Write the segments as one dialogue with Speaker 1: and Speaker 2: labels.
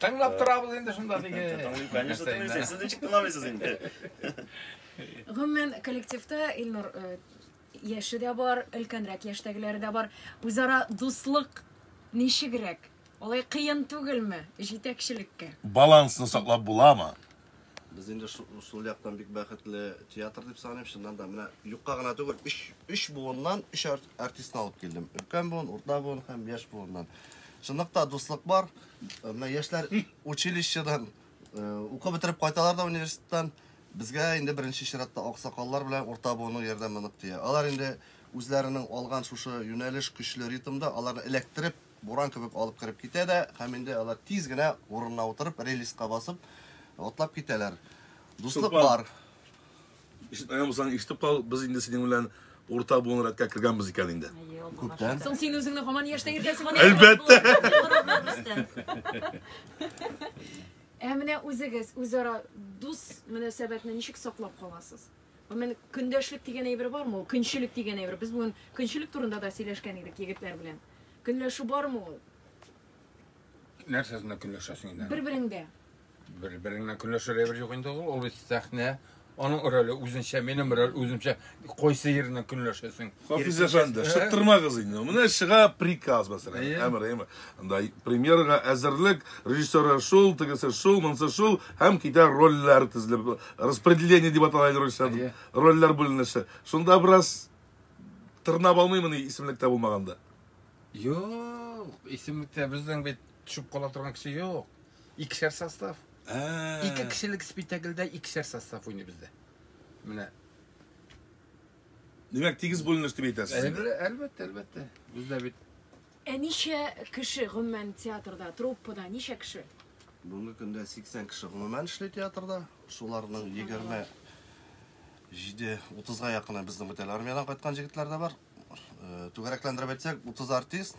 Speaker 1: Тыңлап торабыз инде шунда теге. Тыңлый, конечно, тыңлыйсыз. Сез ничек тыңламыйсыз инде? Гомумән, коллективта Илнур э, яше дә бар, өлкәнрәк яшьтәгеләре дә бар. Үзара дуслык ничегрәк? Алай кыен түгелме җитәкчелеккә? Балансны саклап буламы? Без инде шул яктан бик бәхетле театр дип саныйм. Чыннан да менә юкка гына түгел, 3 3 буыннан 3 артистны алып килдем. Өлкән буын, урта буын һәм яшь буыннан. Чынлыкта дуслык бар. Э, менә яшьләр училищедан э, укып бетереп кайталар да университеттан. Безгә инде беренче чиратта аксакаллар белән урта буынның ярдәме нык тия. Алар инде үзләренең алган шушы юнәлеш көчле ритмда аларны эләктереп Буран кебек алып кереп китә дә, һәм инде алар тиз генә урынына утырып, релиска басып, атлап китәләр. Дуслык Сулпан. бар. Ишетмәгән булсаң, ишетеп кал, без инде синең белән урта буын рәткә кергәнбез икән инде. Күптән. Соң син үзеңне һаман яшьтә йөртәсеңме? Әлбәттә. Ә менә үзегез үзара дус мөнәсәбәтне ничек саклап каласыз? Гомумән, көндәшлек дигән әйбер бармы ул? Көнчелек дигән әйбер. Без бүген көнчелек турында да сөйләшкән идек егетләр белән. Көнләшү бармы ул? Нәрсә сында көнләшәсең инде? Бер-береңдә. Бер-береңдә көнләшер әйбер юк инде ул. Ул бит сәхнә. Аның роле үзенчә, минем роль үземчә. Кайсы ерына көнләшәсең? Хафиз әфәнде, шыттырмагыз инде. Менә чыга приказ мәсәлән, әмер, әмер. Анда премьерга әзерлек, режиссера шул, тегесе шул, монсы шул, һәм китә рольләр тезелеп, распределение дип атала инде русча, рольләр бүленеше. Шунда бераз тырнап алмыймыни исемлектә булмаганда? Юк, исемлектә безнең бит төшеп кала торган кеше юк. Икешәр состав. Ике кешелек спектакльдә икешәр состав уйный бездә. Менә Димәк, тигез бүленеш дип әйтәсез. Әлбәттә, әлбәттә. Бездә бит. Ә ничә кеше гомумән театрда, труппада ничә кеше? Бүгенге көндә 80 кеше гомумән эшли театрда. Шуларның 20 җиде утызга якыны безнең бөтен армиядән кайткан җегетләр дә бар. Э, түгәрәкләндереп әйтсәк, 30 артист,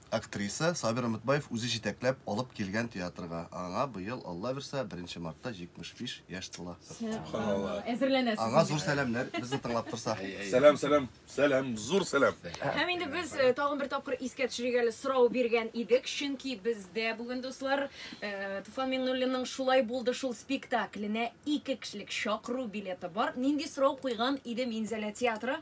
Speaker 1: Актриса Сабир Өметбаев үзе җитәкләп алып килгән театрга. Аңа быел, Алла бирса, беренче мартта 75 яшь тула. Субханалла. Әзерләнәсез. Аңа зур сәламнәр, безне тыңлап торса. Сәлам, сәлам, сәлам, зур сәлам. Һәм инде без э, тагын бер тапкыр искә төшерик әле сорау биргән идек, чөнки бездә бүген дуслар э, Туфан Миңнуллинның шулай булды шул спектакленә ике кешелек чакыру билеты бар. Нинди сорау куйган иде Минзәлә театры?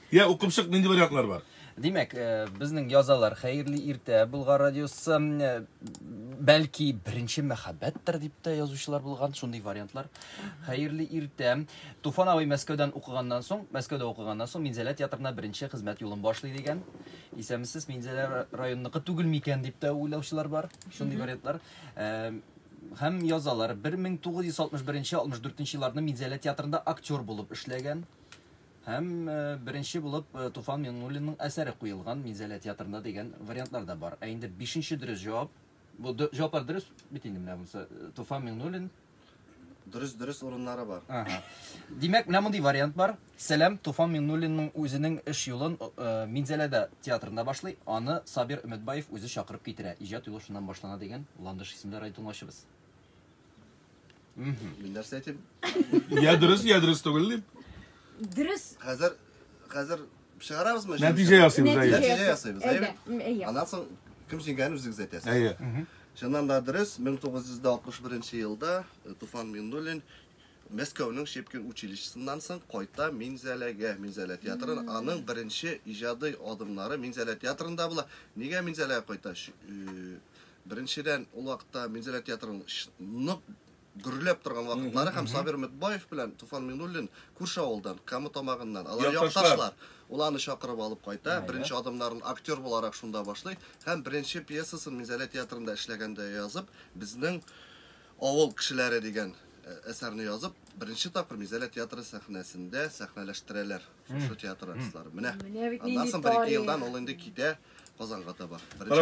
Speaker 1: Я, укып чык, нинди вариантлар бар? Димәк, э, безнең язалар хәерле иртә Болгар радиосы э, бәлки беренче мәхәббәттер дип тә язучылар булган, шундый вариантлар. Хәерле иртә. Туфан абый Мәскәүдән укыганнан соң, Мәскәүдә укыганнан соң Минзәлә театрына беренче хезмәт юлын башлый дигән. Исәмсез Минзәлә районыныкы түгел микән дип тә уйлаучылар бар. Шундый вариантлар. Э, һәм язалар 1961-64 елларны Минзәлә театрында актер булып эшләгән. Һәм беренче булып Туфан Миңнуллинның әсәре куелган Минзәлә театрында дигән вариантлар да бар. Ә инде бишенче дөрес җавап. Бу җаваплар дөрес бит инде менә монысы. Туфан Миңнуллин. Дөрес, дөрес урыннары бар. Ага. Димәк, менә мондый вариант бар. Сәлам, Туфан Миңнуллинның үзенең эш юлын Минзәләдә театрында башлый, аны Сабир Өметбаев үзе чакырып китерә. Иҗат юлы шуннан башлана дигән Ландыш исемле радиотыңлаучыбыз. Мин нәрсә әйтим? Я дөрес, я дөрес түгел дип. Дөрес. Хәзер хәзер чыгарабызмы? Нәтиҗә ясыйбыз, әйе. Нәтиҗә ясыйбыз, әйе. Әйе. Аннан соң кем җиңгәнен үзегез әйтәсез. Әйе. Чыннан да дөрес, 1961 елда э, Туфан Миннуллин Мәскәүнең Шепкин училищесыннан соң кайта Минзәләгә, Минзәлә театрын. Аның беренче иҗади адымнары Минзәлә театрында була. Нигә Минзәләгә кайта? Э, Беренчедән, ул вакытта Минзәлә театрының нык гөрләп торган вакытлары һәм Сабир Мөтбаев белән Туфан Минуллин күрше авылдан, Кама тамагыннан. Алар якташлар. Ул аны чакырып алып кайта, беренче адымнарын актер буларак шунда башлый һәм беренче пьесасын Минзәлә театрында эшләгәндә язып, Безнең авыл кешеләре дигән әсәрне язып, беренче тапкыр Минзәлә театры сәхнәсендә сәхнәләштерәләр шушы театр артистлары. Менә. Аннан соң бер-ике елдан ул инде китә Казанга таба. Беренче